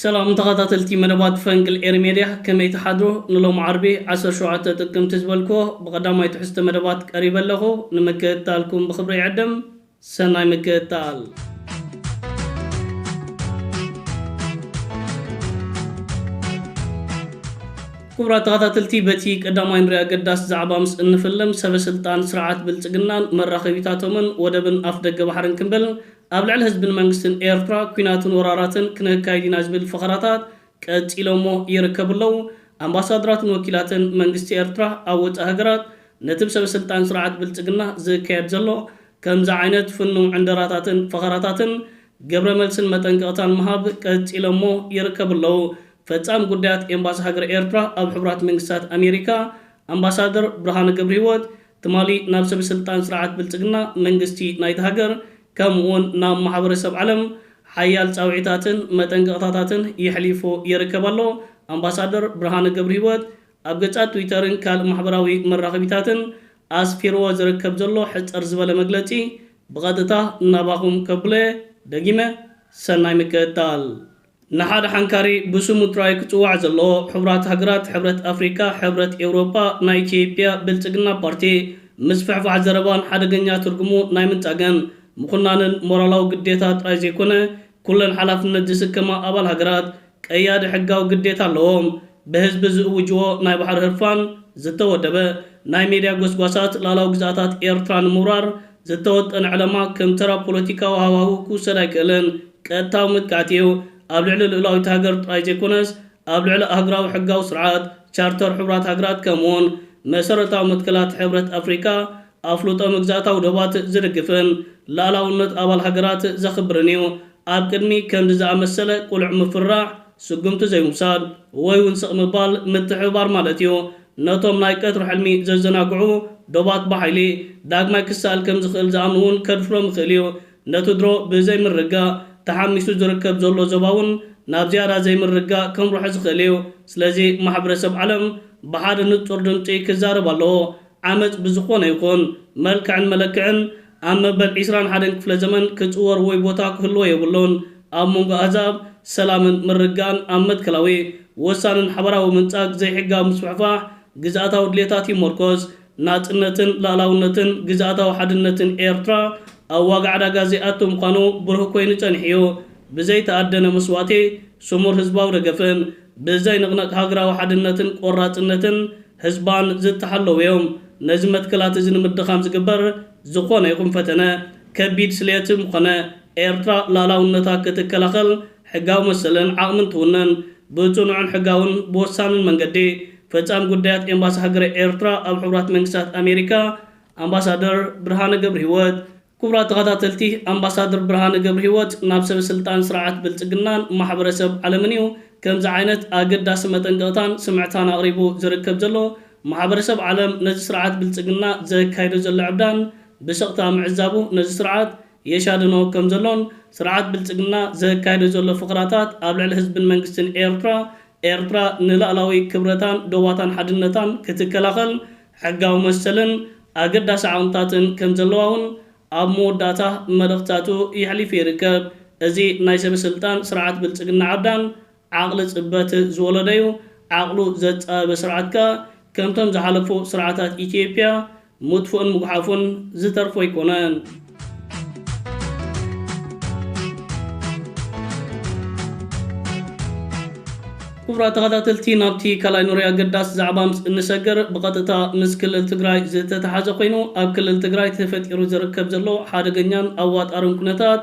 ሰላም ተኻታተልቲ መደባት ፈንቅል ኤሪ ሜድያ ከመይ ትሓድሩ ንሎሚ ዓርቢ ዓሰርተ ሸውዓተ ጥቅምቲ ዝበልክዎ ብቀዳማይ ትሕዝቶ መደባት ቀሪበ ኣለኹ ንምክእትታልኩም ብኽብሪ ይዕድም ሰናይ ምክእትታል። ክቡራት ተኸታተልቲ በቲ ቀዳማይ ንሪ ኣገዳሲ ዛዕባ ምስ እንፍልም ሰበስልጣን ስርዓት ብልፅግናን መራኸቢታቶምን ወደብን ኣፍደገ ባሕርን ክንብል ኣብ ልዕሊ ህዝብን መንግስትን ኤርትራ ኲናትን ወራራትን ክነካይድ ኢና ዝብል ፈኸራታት ቀጺሎሞ ይርከቡ ኣለዉ። ኣምባሳድራትን ወኪላትን መንግስቲ ኤርትራ ኣብ ወጻኢ ሃገራት ነቲ ብሰበ ስልጣን ስርዓት ብልጽግና ዝካየድ ዘሎ ከምዚ ዓይነት ፍኑው ዕንደራታትን ፈኸራታትን ግብረ መልስን መጠንቀቕታን ምሃብ ቀጺሎሞ ይርከቡ ኣለዉ። ፈጻሚ ጉዳያት ኤምባሲ ሃገረ ኤርትራ ኣብ ሕቡራት መንግስታት ኣሜሪካ ኣምባሳደር ብርሃነ ገብርሂወት ትማሊ ናብ ሰበስልጣን ስርዓት ብልጽግና፣ መንግስቲ ናይታ ሃገር ከምኡ'ውን ናብ ማሕበረሰብ ዓለም ሓያል ጻውዒታትን መጠንቀቕታታትን የሕሊፉ ይርከብ ኣሎ። ኣምባሳደር ብርሃነ ገብርሂወት ኣብ ገጻት ትዊተርን ካልእ ማሕበራዊ መራኸቢታትን ኣስፊርዎ ዝርከብ ዘሎ ሕጽር ዝበለ መግለጺ ብቐጥታ ናባኹም ከብሎ'የ። ደጊመ ሰናይ ምክእታል። ንሓደ ሓንካሪ ብስሙ ጥራይ ክጽዋዕ ዘለዎ ሕቡራት ሃገራት፣ ሕብረት ኣፍሪቃ፣ ሕብረት ኤውሮጳ፣ ናይ ኢትዮጵያ ብልጽግና ፓርቲ ምስፍሕፋሕ ዘረባን ሓደገኛ ትርጉሙ ናይ ምንጻግን ምኹናንን ሞራላዊ ግዴታ ጥራይ ዘይኮነ ኩለን ሓላፍነት ዝስከማ ኣባል ሃገራት ቀያዲ ሕጋዊ ግዴታ ኣለዎም። ብህዝቢ ዝእውጅዎ ናይ ባሕሪ ህርፋን ዝተወደበ ናይ ሜድያ ጎስጓሳት ልኣላዊ ግዝኣታት ኤርትራ ንምውራር ዝተወጠነ ዕለማ ከም ተራ ፖለቲካዊ ሃዋሁ ክውሰድ ኣይክእልን። ቀጥታዊ መጥቃዕቲ እዩ። ኣብ ልዕሊ ልኡላዊት ሃገር ጥራይ ዘይኮነስ፣ ኣብ ልዕሊ ኣህጉራዊ ሕጋዊ ስርዓት፣ ቻርተር ሕቡራት ሃገራት፣ ከምኡ'ውን መሰረታዊ መትከላት ሕብረት ኣፍሪቃ፣ ኣፍልጦ መግዛእታዊ ዶባት ዝድግፍን ልኣላውነት ኣባል ሃገራት ዘኽብርን እዩ። ኣብ ቅድሚ ከምዚ ዝኣመሰለ ቅሉዕ ምፍርራሕ፣ ስጉምቲ ዘይምውሳድ ወይ'ውን ስቕ ምባል ምትሕብባር ማለት እዩ። ነቶም ናይ ቀትሪ ሕልሚ ዘዘናግዑ ዶባት ብሓይሊ ዳግማይ ክሰኣል ከም ዝኽእል ዝኣምኑ'ውን ከድፍሮም ይኽእል እዩ። ነቲ ድሮ ብዘይምርግጋእ ተሓሚሱ ዝርከብ ዘሎ ዞባ እውን ናብ ዝያዳ ዘይምርግጋእ ከምርሖ ዝኽእል እዩ። ስለዚ ማሕብረሰብ ዓለም ብሓደ ንጹር ድምጺ ክዛረብ ኣለዎ። ዓመጽ ብዝኾነ ይኹን መልክዕን መለክዕን ኣብ መበል ዕስራን ሓደን ክፍለ ዘመን ክጽወር ወይ ቦታ ክህልዎ የብሉን። ኣብ መንጎ ኣህዛብ ሰላምን ምርግጋእን ኣብ መትከላዊ፣ ወሳንን ሓባራዊ ምንጻግ ዘይሕጋዊ ምስፍሕፋሕ ግዝኣታዊ ድሌታት ይሞርኮስ። ናጽነትን ልኣላውነትን ግዝኣታዊ ሓድነትን ኤርትራ ኣብ ዋጋ ዕዳጋ ዘይኣቱ ምዃኑ ብሩህ ኮይኑ ጸኒሑ እዩ። ብዘይ ተኣደነ መስዋእቲ፣ ስሙር ህዝባዊ ደገፍን ብዘይንቕነቕ ሃገራዊ ሓድነትን ቆራጽነትን ህዝባን ዝተሓለዉ እዮም። ነዚ መትከላት እዚ ንምድኻም ዝግበር ዝኾነ ይኹን ፈተነ ከቢድ ስለየት ምኾነ፣ ኤርትራ ልኣላውነታ ክትከላኸል፣ ሕጋዊ መሰልን ዓቕምን ትውንን። ብጽኑዕን ሕጋውን ብወሳንን መንገዲ፣ ፈጻሚ ጉዳያት ኤምባሲ ሃገረ ኤርትራ ኣብ ሕቡራት መንግስታት ኣሜሪካ ኣምባሳደር ብርሃነ ገብርሂወት። ክቡራት ተኸታተልቲ፣ ኣምባሳድር ብርሃነ ገብርሂወት ናብ ሰበስልጣን ስርዓት ብልጽግናን ማሕበረሰብ ዓለምን እዩ ከምዚ ዓይነት ኣገዳሲ መጠንቀቕታን ስምዕታን ኣቕሪቡ ዝርከብ ዘሎ። ማሕበረሰብ ዓለም ነዚ ስርዓት ብልጽግና ዘካይዶ ዘሎ ዕብዳን ብስቕታ ምዕዛቡ ነዚ ስርዓት የሻድኖ ከም ዘሎን፣ ስርዓት ብልጽግና ዘካይዶ ዘሎ ፍቕራታት ኣብ ልዕሊ ህዝብን መንግስትን ኤርትራ፣ ኤርትራ ንላእላዊ ክብረታን ዶባታን ሓድነታን ክትከላኸል ሕጋዊ መሰልን ኣገዳሲ ዓቕምታትን ከም ዘለዋ ውን ኣብ መወዳእታ መልእኽትታቱ የሕሊፉ ይርከብ። እዚ ናይ ሰበ-ስልጣን ስርዓት ብልጽግና ዓብዳን ዓቕሊ ጽበት ዝወለደ'ዩ፣ ዓቕሉ ዘጻበበ ስርዓት ከኣ ከምቶም ዝሓለፉ ስርዓታት ኢትዮጵያ ምጥፍኡን ምጉሓፉን ዝተርፎ ኣይኮነን። ክቡራት ተኸታተልቲ ናብቲ ካልኣይ ኑሪ ኣገዳሲ ዛዕባ ምስ እንሰግር ብቐጥታ ምስ ክልል ትግራይ ዝተተሓዘ ኮይኑ ኣብ ክልል ትግራይ ተፈጢሩ ዝርከብ ዘሎ ሓደገኛን ኣዋጣርን ኩነታት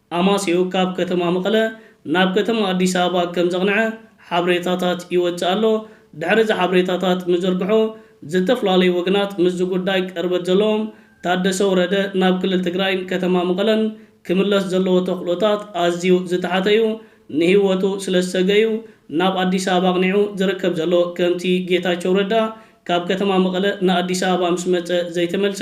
ኣማስይኡ ካብ ከተማ መቐለ ናብ ከተማ ኣዲስ ኣበባ ከምዘቕንዐ ሓበሬታታት ይወጽእ ኣሎ። ድሕሪ እዚ ሓበሬታታት ምዝርግሑ ዝተፍላለዩ ወገናት ምስዚ ጉዳይ ቅርበት ዘለዎም ታደሰ ወረደ ናብ ክልል ትግራይን ከተማ መቐለን ክምለስ ዘለዎ ተኽእሎታት ኣዝዩ ዝተሓተ እዩ ንህይወቱ ስለዝሰግእ እዩ ናብ ኣዲስ ኣበባ ኣቕኒዑ ዝርከብ ዘሎ ከምቲ ጌታቸው ረዳ ካብ ከተማ መቐለ ንኣዲስ ኣበባ ምስመጸ ዘይተመልሰ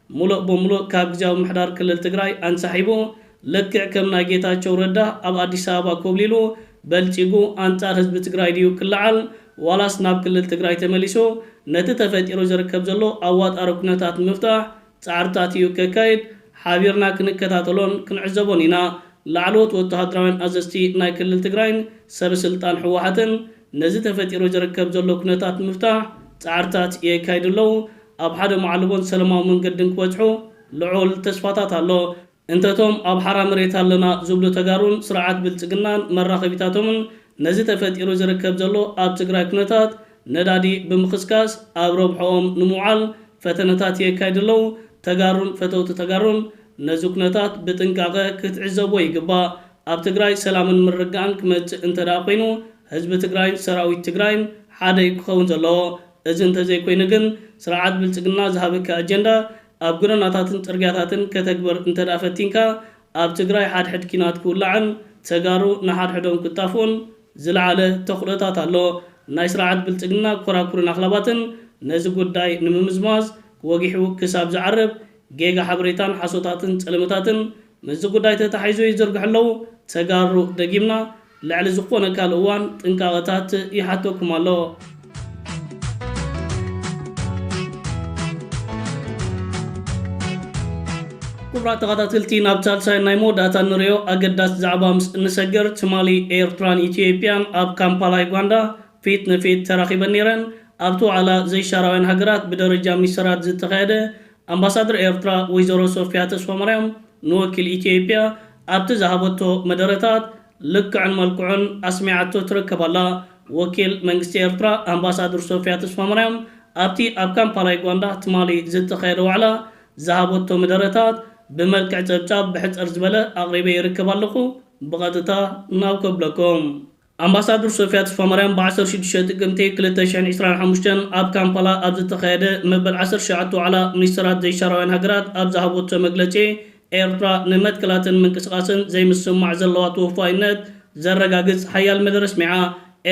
ሙሎእ ብሙሉእ ካብ ግዝያዊ ምምሕዳር ክልል ትግራይ ኣንሳሒቡ ልክዕ ከም ናይ ጌታቸው ረዳ ኣብ ኣዲስ ኣበባ ኮብሊሉ በልጺጉ ኣንጻር ህዝቢ ትግራይ ድዩ ክለዓል ዋላስ ናብ ክልል ትግራይ ተመሊሱ ነቲ ተፈጢሩ ዝርከብ ዘሎ ኣዋጣሪ ኩነታት ንምፍታሕ ጻዕርታት እዩ ከካይድ ሓቢርና ክንከታተሎን ክንዕዘቦን ኢና ላዕለዎት ወተሃደራውያን ኣዘዝቲ ናይ ክልል ትግራይን ሰበስልጣን ህወሓትን ነዚ ተፈጢሩ ዝርከብ ዘሎ ኩነታት ንምፍታሕ ጻዕርታት የካይዱ ኣለው ኣብ ሓደ መዓልቦን ሰለማዊ መንገድን ክበጽሑ ልዑል ተስፋታት ኣሎ። እንተ እቶም ኣብ ሓራ መሬት ኣለና ዝብሉ ተጋሩን ስርዓት ብልጽግናን መራኸቢታቶምን ነዚ ተፈጢሩ ዝርከብ ዘሎ ኣብ ትግራይ ኩነታት ነዳዲ ብምኽስካስ ኣብ ረብሕኦም ንምውዓል ፈተነታት የካይዱ ኣለው። ተጋሩን ፈተውቲ ተጋሩን ነዚ ኩነታት ብጥንቃቐ ክትዕዘብዎ ይግባእ። ኣብ ትግራይ ሰላምን ምርግጋእን ክመጽእ እንተድኣ ኮይኑ ህዝቢ ትግራይን ሰራዊት ትግራይን ሓደ እዩ ክኸውን ዘለዎ። እዚ እንተዘይኮይኑ ግን ስርዓት ብልፅግና ዝሃበኪ ኣጀንዳ ኣብ ጎደናታትን ፅርግያታትን ከተግብር እንተድኣ ፈቲንካ ኣብ ትግራይ ሓድሕድ ኲናት ክውላዕን ተጋሩ ንሓድሕዶም ክጣፍኡን ዝልዓለ ተኽእሎታት ኣሎ። ናይ ስርዓት ብልፅግና ኮራኩርን ኣኽላባትን ነዚ ጉዳይ ንምምዝማዝ ወጊሑ ክሳብ ዝዓርብ ጌጋ ሓበሬታን ሓሶታትን ፀለመታትን ምስዚ ጉዳይ ተታሒዙ ይዝርግሑ ኣለዉ። ተጋሩ ደጊምና ልዕሊ ዝኾነ ካልእ እዋን ጥንቃቐታት ይሓተኩም ኣሎ። ኩቡራት ተኻታተልቲ ናብ ሳልሳይን ናይ መወዳእታን ንሪኦ ኣገዳሲ ዛዕባ ምስ እንሰግር ትማሊ ኤርትራን ኢትዮጵያን ኣብ ካምፓላ ዩጋንዳ ፊት ንፊት ተራኺበን ኔረን። ኣብቲ ዋዕላ ዘይሻራውያን ሃገራት ብደረጃ ሚኒስተራት ዝተኻየደ ኣምባሳድር ኤርትራ ወይዘሮ ሶፍያ ተስፋማርያም ንወኪል ኢትዮጵያ ኣብቲ ዝሃበቶ መደረታት ልክዕን መልክዑን ኣስሚዓቶ ትርከብ ኣላ። ወኪል መንግስቲ ኤርትራ ኣምባሳድር ሶፍያ ተስፋማርያም ኣብቲ ኣብ ካምፓላ ዩጋንዳ ትማሊ ዝተኻየደ ዋዕላ ዝሃበቶ ምደረታት ብመልክዕ ጸብጻብ ብሕጽር ዝበለ ኣቕሪበ ይርከብ ኣለኹ ብቐጥታ ናብ ከብለኩም። ኣምባሳዱር ሶፍያ ተስፋማርያም ብ ዓሰርተ ሽዱሽተ ጥቅምቲ ክልተ ሽሕን ዕስራን ሓሙሽተን ኣብ ካምፓላ ኣብ ዝተኻየደ መበል ዓሰርተ ትሽዓተ ዋዕላ ሚኒስተራት ዘይሻራውያን ሃገራት ኣብ ዝሃበቶ መግለጺ ኤርትራ ንመትከላትን ምንቅስቓስን ዘይምስምማዕ ዘለዋ ተወፋይነት ዘረጋግጽ ሓያል መደረ ኣስሚዓ።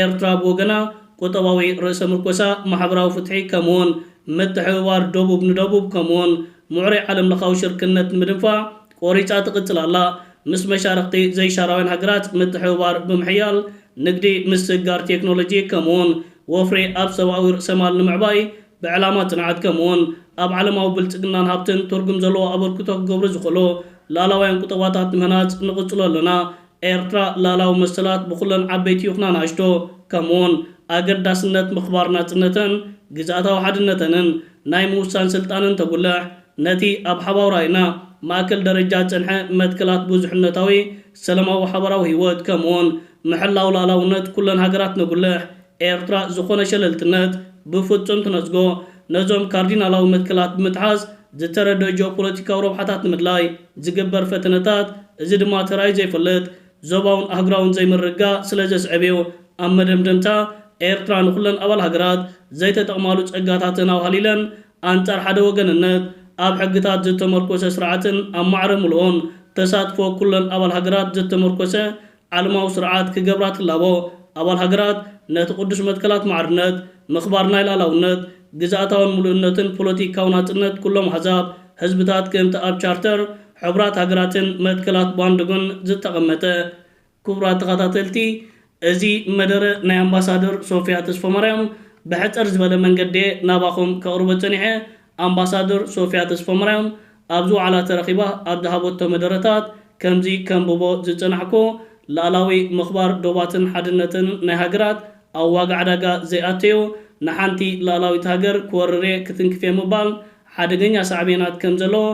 ኤርትራ ብወገና ቁጠባዊ ርእሰ ምርኮሳ፣ ማሕበራዊ ፍትሒ ከምኡ'ውን ምትሕብባር ደቡብ ንደቡብ ከምኡ'ውን ምዕሩይ ዓለምለኻዊ ሽርክነት ንምድንፋዕ ቆሪፃ ትቕፅል ኣላ። ምስ መሻርኽቲ ዘይሻራውያን ሃገራት ምትሕብባር ብምሕያል ንግዲ ምስግጋር ቴክኖሎጂ ከምኡውን ወፍሪ ኣብ ሰብኣዊ ርእሰማል ንምዕባይ ብዕላማ ፅንዓት ከምኡውን ኣብ ዓለማዊ ብልፅግናን ሃብትን ትርጉም ዘለዎ ኣበርክቶ ክገብሩ ዝኽእሉ ልኣላውያን ቁጠባታት ምህናፅ ንቕፅሎ ኣለና። ኤርትራ ልኣላዊ መሰላት ብኹለን ዓበይቲ ይኹና ናእሽቶ ከምኡውን ኣገዳስነት ምኽባር ናጽነተን ግዝኣታዊ ሓድነተንን ናይ ምውሳን ስልጣንን ተጉልሕ ነቲ ኣብ ሓባዊ ራኢና ማእከል ደረጃ ዝጸንሐ መትከላት ብዙሕነታዊ ሰለማዊ ሓባራዊ ህይወት ከምኡውን ምሕላው ልኣላውነት ኩለን ሃገራት ነጉልሕ ኤርትራ ዝኾነ ሸለልትነት ብፍጹም ትነጽጎ፣ ነዞም ካርዲናላዊ መትከላት ብምጥሓስ ዝተረድኦ ጂኦፖለቲካዊ ረብሓታት ንምድላይ ዝግበር ፈተነታት፣ እዚ ድማ ተራእዩ ዘይፈልጥ ዞባውን ኣህጉራውን ዘይምርግጋእ ስለ ዘስዕብ እዩ። ኣብ መደምደምታ፣ ኤርትራ ንኹለን ኣባል ሃገራት ዘይተጠቕማሉ ጸጋታተን ኣውሃሊለን ኣንጻር ሓደ ወገንነት፣ ኣብ ሕግታት ዝተመርኮሰ ስርዓትን ኣብ ማዕረ ምሉእን ተሳትፎ ኩለን ኣባል ሃገራት ዝተመርኮሰ ዓለማዊ ስርዓት ክገብራ ትላቦ። ኣባል ሃገራት ነቲ ቅዱስ መትከላት ማዕርነት፣ ምኽባር ናይ ልኣላውነት፣ ግዝኣታውን ምሉእነትን ፖለቲካዊ ናጽነት ኩሎም ኣህዛብ፣ ህዝብታት ክእንቲ ኣብ ቻርተር ሕቡራት ሃገራትን መትከላት ባንዱግን ዝተቐመጠ። ክቡራት ተኸታተልቲ እዚ መደረ ናይ ኣምባሳደር ሶፍያ ተስፎማርያም ብሕጽር ዝበለ መንገዲ'የ ናባኹም ከቕርቦ ጸኒሐ ኣምባሳደር ሶፍያ ተስፎምርያም ኣብዚ ዋዕላ ተረኺባ ኣብ ዝሃበቶ መደረታት ከምዚ ከንብቦ ዝጸናሕኩ ልኣላዊ ምኽባር ዶባትን ሓድነትን ናይ ሃገራት ኣብ ዋጋ ዕዳጋ ዘይኣተዩ ንሓንቲ ልኣላዊት ሃገር ክወርር'የ ክትንክፍ'የ ምባል ሓደገኛ ሳዕቤናት ከምዘለዎ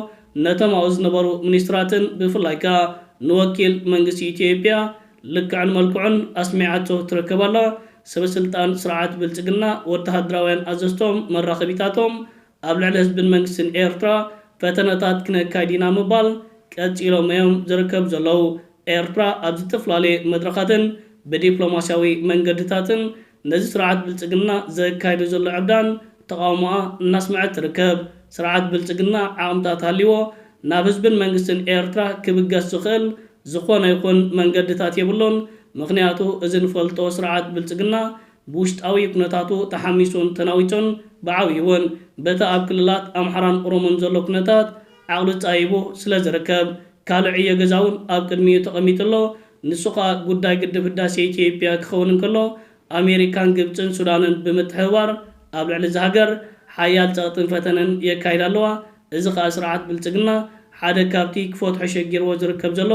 ነቶም ኣብኡ ዝነበሩ ሚኒስትራትን ብፍላይ ከኣ ንወኪል መንግስቲ ኢትዮጵያ ልክዕን መልክዑን ኣስሚዓቶ ትረከብ ኣላ። ሰበስልጣን ስርዓት ብልጽግና፣ ወተሃደራውያን ኣዘዝቶም፣ መራኸቢታቶም፣ ኣብ ልዕሊ ህዝብን መንግስትን ኤርትራ ፈተነታት ክነካይድ ኢና ምባል ቀጺሎም እዮም ዝርከቡ ዘለዉ። ኤርትራ ኣብ ዝትፍላለየ መድረኻትን ብዲፕሎማስያዊ መንገድታትን ነዚ ስርዓት ብልፅግና ዘካይዶ ዘሎ ዕብዳን ተቓውሞኣ እናስመዐት ትርከብ። ስርዓት ብልፅግና ዓቕምታት ሃልይዎ ናብ ህዝብን መንግስትን ኤርትራ ክብገስ ዝኽእል ዝኾነ ይኹን መንገድታት የብሉን። ምኽንያቱ እዚ ንፈልጦ ስርዓት ብልፅግና ብውሽጣዊ ኩነታቱ ተሓሚሱን ተናዊፁን ብዓብይውን በቲ ኣብ ክልላት ኣምሓራን ኦሮሞን ዘሎ ኩነታት ዓቕሉ ጻይቡ ስለ ዝርከብ፣ ካልእ ዕዮ ገዛ'ውን ኣብ ቅድሚኡ ተቐሚጡ ኣሎ። ንሱ ከኣ ጉዳይ ግድብ ህዳሴ ኢትዮጵያ ክኸውን እንከሎ፣ ኣሜሪካን ግብጽን ሱዳንን ብምትሕብባር ኣብ ልዕሊ እዛ ሃገር ሓያል ጸቕጥን ፈተነን የካይዳ ኣለዋ። እዚ ከኣ ስርዓት ብልጽግና ሓደ ካብቲ ክፈትሖ ሸጊርዎ ዝርከብ ዘሎ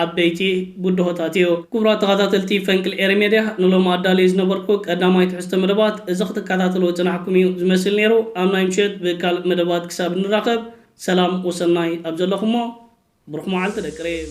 ዓበይቲ ብድሆታት እዩ። ክቡራት ተኻታተልቲ ፈንቅል ኤሪ ሜድያ ንሎሚ ኣዳልየ ዝነበርኩ ቀዳማይ ትሕዝቶ መደባት እዚ ክትካታተልዎ ዝጸናሕኩም እዩ ዝመስል ኔሩ ኣብ ናይ ምሸት ብካልእ መደባት ክሳብ ንራኸብ ሰላም ወሰናይ ኣብ ዘለኹሞ ብሩኽ መዓልቲ ደቂ ሪም።